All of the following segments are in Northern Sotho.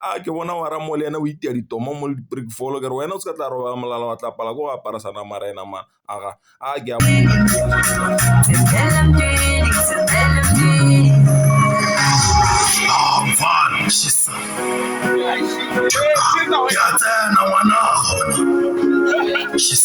A ke bona wa ramo le ena o itia ditomo mo le di-brick fall ke re wena o se ka tla robala molala wa tlapala ko go apara sana mara ena ma aga a ke a She's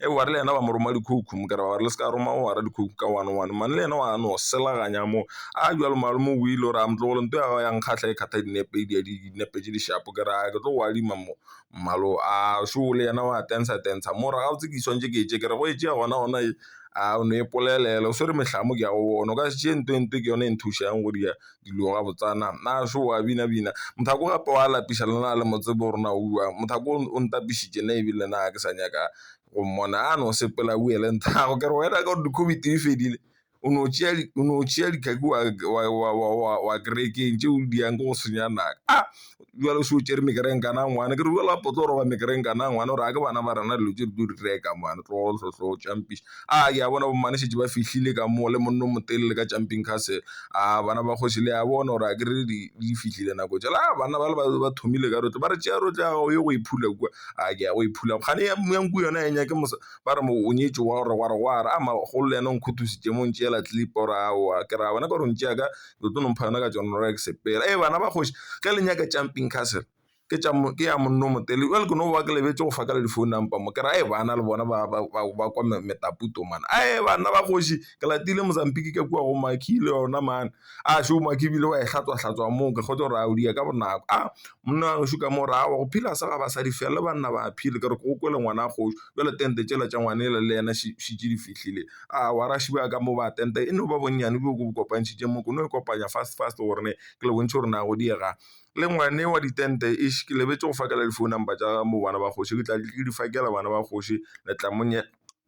e wa re le yena ba mo roma dikhoukhou mo kere ba re le se ka roma o wara dikhoukhou ka one one mane le yena wa no selaganya mo a jalo malome o ile o re a motlogolo nto ya yang kgatlha e kgatha dinepe e di ya dinepe tše dishapo ke ra ke tlo go adima mo mmalo a šo le yena wa tensa tensa mo ra gabotse ke swantse ke tše ke re go e tšea gona gona e a o ne e polelele o swere mehlamo ke ya go bona o ka se tšee nto e nto ke yone e nthušang go di ya dilo gabotsana na so wa bina bina mothako gape wa lapiša le na le mo tsebe gore na o bjang mothako o ntapišitše ne ebile na ha ke sa nyaka go mmona a no sepela o boele nthago ke re wena ka gore di-COVID di fedile o no tšea o no tšea dikhaki wa kerekeng tšeo di yang ko go senya naka . bjalo se o tšere mekereng kana ngwana ke re bjalo a potlo roba mekereng kana ngwana gore a ke bana ba rena dilo tše di tlo di reka mane tlogohlohlo tšampiša a ke a bona bomane šetše ba fihlile ka mo le monno motelele ka jumping castle a bana ba kgoši le a bona gore a ke re di di fihlile nako tša la banna ba le ba ba thomile ka rotle ba re tšea rotle ya gago ye go e phula kua a ke ya go e phula kgane ya nku yona e nyake mosa ba re mo o nyetšo wa gore gwa re gwa re a magolo le yena o nkgothositše mo ntšeela clip gore aowa ke ra bona ka gore ntšeaka le tlo no mpha yona ka John Roeg sepela ee bana ba kgoši ge le nyaka jumping castle ke tša mo ke ya monno motele jwale ke no ba ke lebetše go fa ka le di-phone number mo kere a bana le bona ba ba ba ba kwa metaputo mane ae banna ba kgoši ke latile Mozambique ka kwa go Makhie le yona mane a šo Makhie ebile wa e hlatswa hlatswa moo ke kgotse gore a o di ya ka bonako a monna wa gešo ka mo ra wa go phela sa ga basadi fela le banna ba phele ke re ke o kwele ngwana a kgoši jwale tente tšela tša ngwane le le yena šetše di fihlile. a wa ra šiba ka mo ba tente e no ba bonnyane bjo bo kopantšhitše mo kono e kopanya fast fast gore ne ke le bontšhe gore na go diega le ngwane wa ditente e ke lebetše go fakela di-phone number tša mo bana ba kgoši ke tla ke di fakela bana ba kgoši le tla mo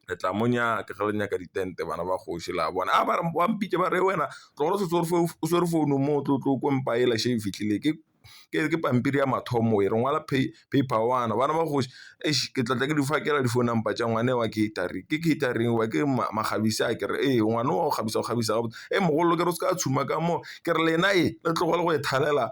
le tla mo nyaka ge le nyaka ditente bana ba kgoši la bona a ba re ba mpitša ba re wena tlogolo setse o swere founu mo o tlo tlo ko mpa e la še e fihlile ke. ke pampiri ya mathomo e re ngwala paper one bana ba kgoši eish ke tla tla ke di fakela di phone number tša ngwana wa catering, ke catering wa ke makgabisa a kere ee ngwana wa go kgabisa go kgabisa gabotse. Hee mogolo ke re o se ka tšhuma ka mo ke re lena ee le tlogele go e thalela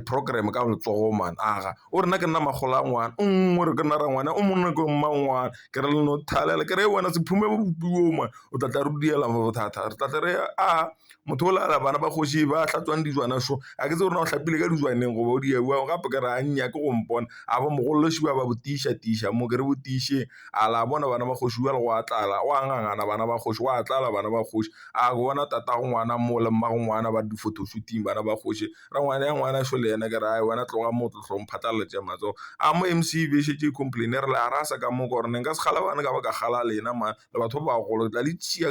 program ka letsogo mane aga o re nna ke nna makgolo a ngwana o re ke nna rangwane o monna ke mmangwana ke re le no thalela ke re wena se phume bodutu bjo mane o tla tla re diela bothata re tla tla re a motho o lala bana ba kgoši ba hlatswang dijwana šo ga ke tsebe gore na o hlapile ka dijwaneng goba o diabo gape ke re a nnyake go mpona a ba mogolole ši ba ba botiša tiša mo ke re botišeng a la bona bana ba kgoši bjale go a tlala go a ngangana bana ba kgoši go a tlala bana ba kgoši a ke bona tatago ngwana mo le mmago ngwana ba re di-photo shooting bana ba kgoši ra ngwana ya ngwana šo le yena ke re a wena tloga mo tlo hlong phatlaletše matsogo a mo M_C_B e šetše e complain-a e re le a rasa ka mo ke gore ne nka se kgale bana ka ba ka kgale a lena mane. le batho ba bagolo ke tla le tšea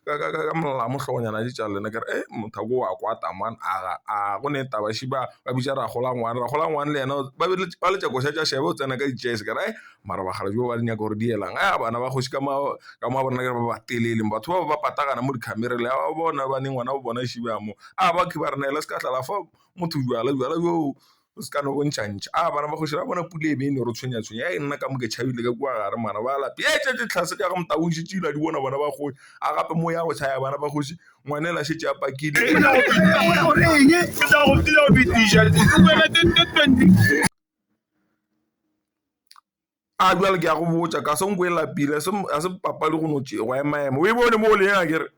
ka molala mo hlogonyana tše tša lena ke re mothako o a kwata mane aga a go ne taba še ba ba bitša rragolwane, rragolwane le yena ba be ba letša koša tša šeba o tsena ka ditšese ka re mara bakgalabje ba ba di nyaka gore di elang a bana ba kgoši ka mo ka mo bona ke ba ba telele batho ba ba patagana mo dikhamera le a ba bona ba ne ngwana wa bona šebang mo a ba ke ba re neele se ka tlala fa motho bjala bjala bjoo. o se ka no bontšha ntšha a bana ba kgoši ra bona pula e be e no re tshwenya tshwenya a e nna ka mo ke tšhabile ka kua gare mana ba lape e tšetše tlhase ka go motabo šetše ile a di bona bana ba kgoši a gape mo ya go tšhaya bana ba kgoši ngwanela šetše a pakile a bjale ke ya go botša ka se nko e lapile a se papadi go no tšego ya maemo o e bone mo le yena kere.